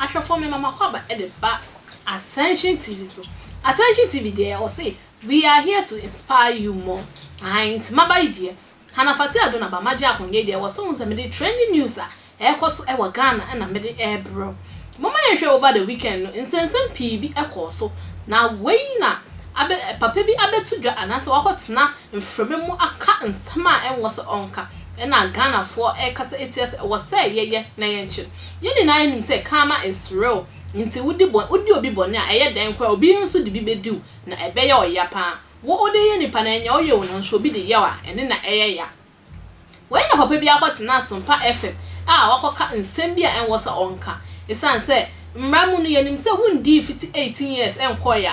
Ahwɛfoɔ me mama kwaba de ba attention tv so attention tv deɛ ɔse we are here to inspire you more ahan nti maba yi deɛ Hannah Fathia Adu Naba Magye ahonyɛ deɛ ɛwɔ sɛ wohu sɛ mede trending news a ɛrekɔ so wɔ Ghana na mede rebrɛ wo. Momma yɛnhwɛ over the weekend no nsɛnsɛm pii bi kɔɔ so na wei na abɛ papa bi abɛto dwa anaasɛ wakɔtena mframa mu aka nsɛm a ɛnwɔ sɛ ɔnka na Ghanafoɔ rekasa atia sɛ ɛwɔ sɛ yɛyɛ na yɛnkyɛ. Yɛn nyinaa yɛnim sɛ karma is real nti wodi bɔ wodi obi bɔne a ɛyɛ dɛn koraa obi nso de bi bɛdi wo na ɛbɛyɛ ɔya pa ara. Wo ode yɛ nipa na ɛnyɛ ɔyɛ o nanso obi de yaw a ɛne na ɛyɛ ya. Wei na papa bi akɔ tena Asompa FM a wakɔ ka nsɛm bi a ɛnwɔ sɛ ɔnka. Ɛsiane sɛ mmra mu no yɛnim sɛ wo ndii mfiti eighteen years nkɔɔɛ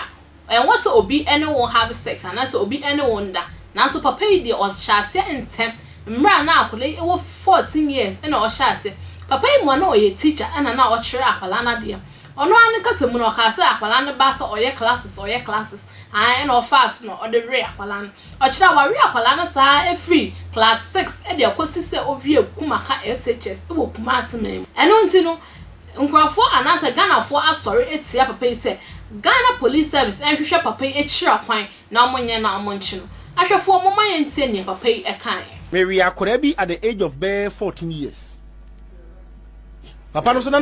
a ɛnwɔ sɛ obi ne wo have sex anaa sɛ obi ne wo nda. Nanso papa yi deɛ ɔhyɛ aseɛ ntɛm mmra na akwadaa yi wɔ fourteen years ɛna ɔhyɛ aseɛ. Papa yi mua na ɔyɛ teacher ɛna na ɔkyerɛ akwadaa no adeɛ. Ɔno ara ne kasa mu no ɔkaa sɛ akwadaa no ba sɛ ɔyɛ classes ɔyɛ classes. Ae, ɛna ɔfaa so na ɔde wee akwadaa no. Ɔkyerɛ a, wawe akwadaa no saa ara firi class six de akɔsi sɛ ɔwiee Kumaka SHS wɔ Kumasi man mu. Ɛno nti no, nkurɔfoɔ anaasɛ Ghanafoɔ asɔre atia papa yi sɛ Ghana Police Service nhwehwɛ papa yi akyira kwan na wɔnyɛ na wɔnkye no. Ahwɛfoɔ, momma yɛntie deɛ papa yi kaeɛ. Mewee akwadaa bi at the age of bɛyɛ fourteen years. papa no so na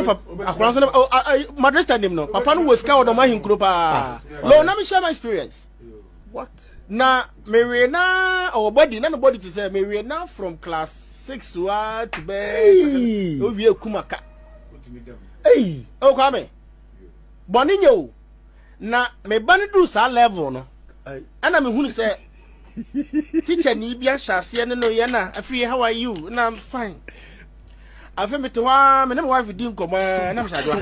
akora so na oh, ah, ah, madrid stand him no papa no wɔ sika ɔdɔm ahenkuro paa lɔn na mehyɛ my experience what na mewe na ɔwɔ body na no body te sɛ mewe na from class six to a to bɛ owie kumaka ɛyi ɔkwa me bɔne nyɛ o Na me ba no duu saa level no, ɛna me hunu sɛ teacher ni bi ahyɛ aseɛ ne no yɛ na afiri how are you na I'm fine. Afei mete hɔ a me ne my wife di nkɔmɔ a na mehyɛ adwa.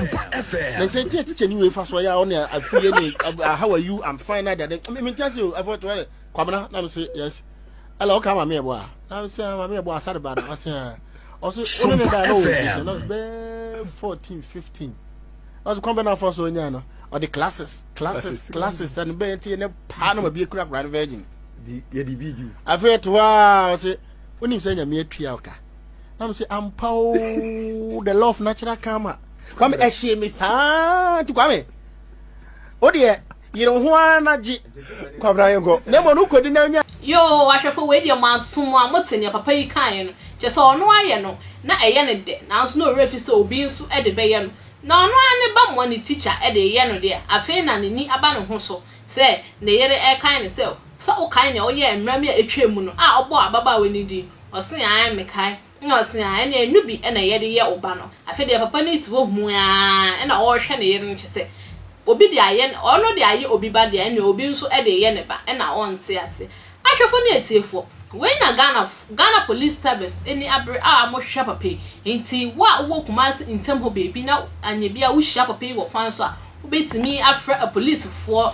Na nsɛ ntia teacher ni wei fa so ya a ɔne afiri yɛ ne how are you I'm fine na dade. Me ntia se o afɔ to ɛlɛ kwamina na me se yes. Ɛla ɔka ma me ɛbɔ a na me se ma me ɛbɔ asare ba na ɔse ɔse ɔne ne da na ɔwɔ 14 15. ɔsɛ kwan bɛ na afɔ so ɔnya no ɔde classes classes classes ɛno bɛyɛ nti ne paa na mabie kura kura no virgin yɛde bi di afei ɛto hɔ a ɔsɛ wonim sɛ nyame atua ɔka na m sɛ ampa o the law of natural karma kwame ɛhyee me saa nti kwame wodeɛ Yere ho ara na gye kwabena yenkɔ na mmom no kodi na nya. Yoo ahwɛfo wei deɛ mo aso mo a mo te nea papa yi kaeɛ no kyerɛ sɛ ɔno ayɛ no na ɛyɛ no dɛ nanso na ɔwerɛ fi sɛ obi nso de bɛyɛ no na ɔno ara ne ba moa ne tikya de reyɛ no deɛ afei na n'ani aba ne ho so sɛ ne yere rekae no sɛ sɛ wokae nea ɔyɛɛ mmerɛ me a atwaa mu no a ɔbɔɔ ababaawa no din ɔse ae mekae Nna ɔse a ɛne ɛno bi na yɛde yɛ wo ba no. Afei deɛ papa no te hɔ huu aa na ɔrehwɛ ne yere no kyesɛ obi de ayɛ ne ɔno de ayɛ obi ba deɛ ɛne obi nso de reyɛ ne ba ɛna ɔnte ase. Ahwɛfoɔ ne atiefoɔ, wei na Ghanafoɔ, Ghana Police Service ani abere a wɔhwehwɛ papa yi. Enti wo a wowɔ Kumasi ntam hɔ baabi na anyɛ bi a wohyia papa yi wɔ kwan so a, wobɛtumi afrɛ apolisifoɔ